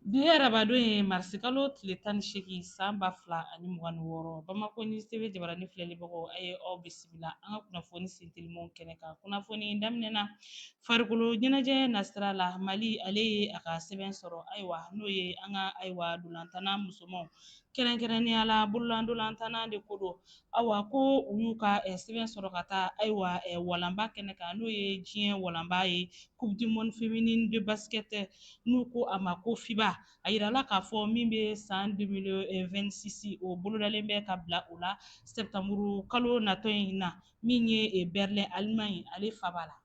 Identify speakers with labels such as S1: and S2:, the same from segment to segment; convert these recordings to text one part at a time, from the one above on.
S1: Bi ye arabadon ye marisikalo tile tan ni seegin san ba fila ani mugan ni wɔɔrɔ bamakɔ ni sebe jabarani filɛlibagaw a ye aw bisimila an ka kunnafoni sintelimaw kɛnɛ kan kunnafoni daminɛna farikolo ɲɛnajɛ nasira la mali ale ye a ka sɛbɛn sɔrɔ ayiwa n'o ye an ka ayiwa ntolatanna musomanw kɛrɛnkɛrɛnnenya la bolola ntolatanna de ko don Awa ko u y'u ka eh, sɛbɛn sɔrɔ ka taa ayiwa eh, walanba kɛnɛ kan n'o ye diɲɛ walanba ye coupe du monde féminine de basket n'u ko a ma ko fiba a yirala k'a fɔ min bɛ san 2026 o bolodalen bɛ ka bila o la sɛptanburu kalo natɔ in na min ye eh, berlin allemagne ale faaba la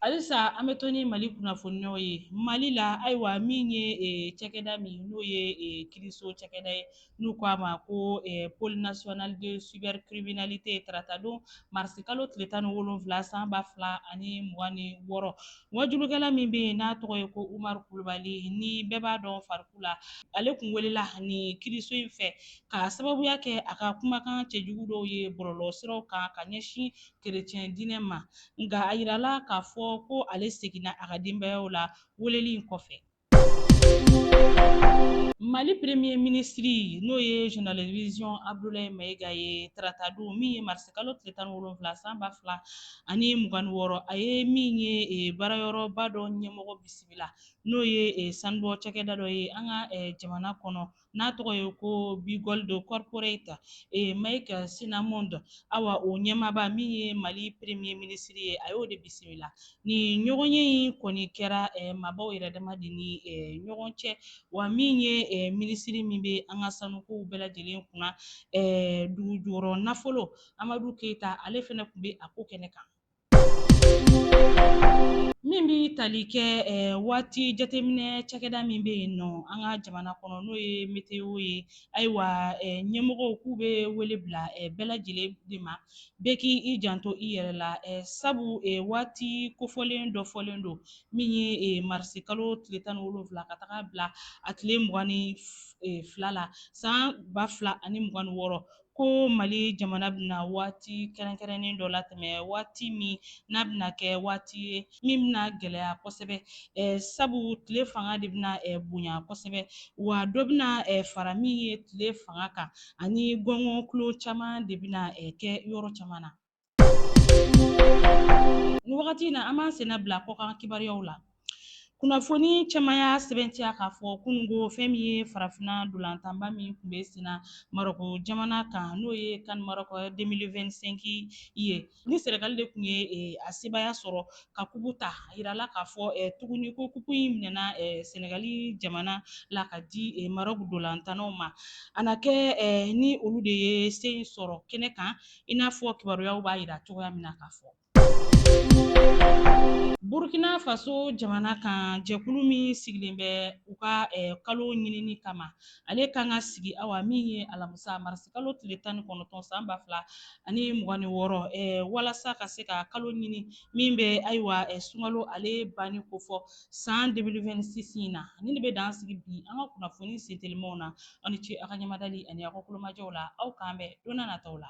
S1: halisa an bɛ to ni mali kunnafoniw ye mali la ayiwa min ye eh, cakɛda min n'o ye eh, kiriso cakɛda ye n'u ko a ma ko eh, pôle national de cybercriminalité taratadon marisi kalo tile tan ni wolonfila san ba fila ani mugan ni wɔɔrɔ waajulikɛla min bɛ yen n'a tɔgɔ ye ko umaru kulubali ni bɛɛ b'a dɔn fariku la ale kun welela ni kiriso in fɛ K'a sababuya kɛ a ka kumakan cɛjugu dɔw ye bɔlɔlɔsiraw kan ka ɲɛsin kerecɛn diinɛ ma, nka a yirala k'a fɔ ko ale seginna a ka denbayaw la weleli in kɔfɛ. Mali premier minisiri n'o ye Jenerali Diwisiyɔn Abudulayi Mayiga ye taratadon min ye marisi kalo tile tan ni wolonfila san ba fila ani mugan ni wɔɔrɔ a ye min ye e, baarayɔrɔba dɔ ɲɛmɔgɔ bisimila n'o ye e, sanubɔ cakɛda dɔ ye an ka e, jamana kɔnɔ n'a tɔgɔ ye ko B2Gold Corporate ee Mike Cinnamond awa o ɲɛmaaba min ye mali premier minisiri ye a y'o de bisimila ni ɲɔgɔn ye in kɔni kɛra maabaw yɛrɛ dama de ni ɲɔgɔn cɛ wa min ye minisiri min bɛ an ka sanukow bɛɛ lajɛlen kunna dugujukɔrɔ nafolo amadu keyita ale fana tun bɛ a ko kɛnɛ kan Min bɛ tali kɛ waati jateminɛ cakɛda min bɛ yen nɔ an ka jamana kɔnɔ n'o ye météo ye ayiwa ɲɛmɔgɔw k'u bɛ wele bila bɛɛ lajɛlen de ma bɛɛ k' i janto i yɛrɛ la sabu waati kofɔlen dɔ fɔlen don min ye marisikalo tile tan ni wolonfila ka taga bila a tile mugan ni fila la san ba fila ani mugan ni wɔɔrɔ ko mali jamana bɛna waati kɛrɛnkɛrɛnnen dɔ latɛmɛ waati min n'a bɛna kɛ waati ye min bɛna gɛlɛya kosɛbɛ sabu tile fanga de bɛna bonya kosɛbɛ wa dɔ bɛna fara min ye tile fanga kan ani gɔngɔn kulu caman de bɛna kɛ yɔrɔ caman na Nin wagati in na an b'an senna bila kɔkan kibaruyaw la. Kunnafoni caman y'a sɛbɛntiya k'a fɔ kunun ko fɛn min ye farafinna dolantanba min tun bɛ senna Marɔku jamana kan n'o ye CAN Maroc 2025 ye, ni Senegal de tun ye a sebaaya sɔrɔ ka kupu ta, a yirala k'a fɔ tuguni ko kupu in minɛna Senegal jamana la ka di Marɔku dolantannaw ma, a na kɛ ni olu de ye se in sɔrɔ kɛnɛ kan i n'a fɔ kibaruyaw b'a yira cogoya min na k'a fɔ burkina faso jamana kan jɛkulu min sigilen bɛ u ka eh, kalo ɲinini kama ale kan ka sigi awa min ye alamusa marisi kalo tile tan ni kɔnɔntɔn san ba fila ani mugan ni wɔɔrɔ eh, walasa ka se ka kalo ɲini min bɛ ayiwa eh, sungalo ale banni kofɔ san 2026 in na nin de bɛ dan sigi bi an ka kunnafoni sentelimaw na aw ni ce aw ka ɲɛmadali ani aw ka tulomajɔ la aw k'an bɛn don na nataw la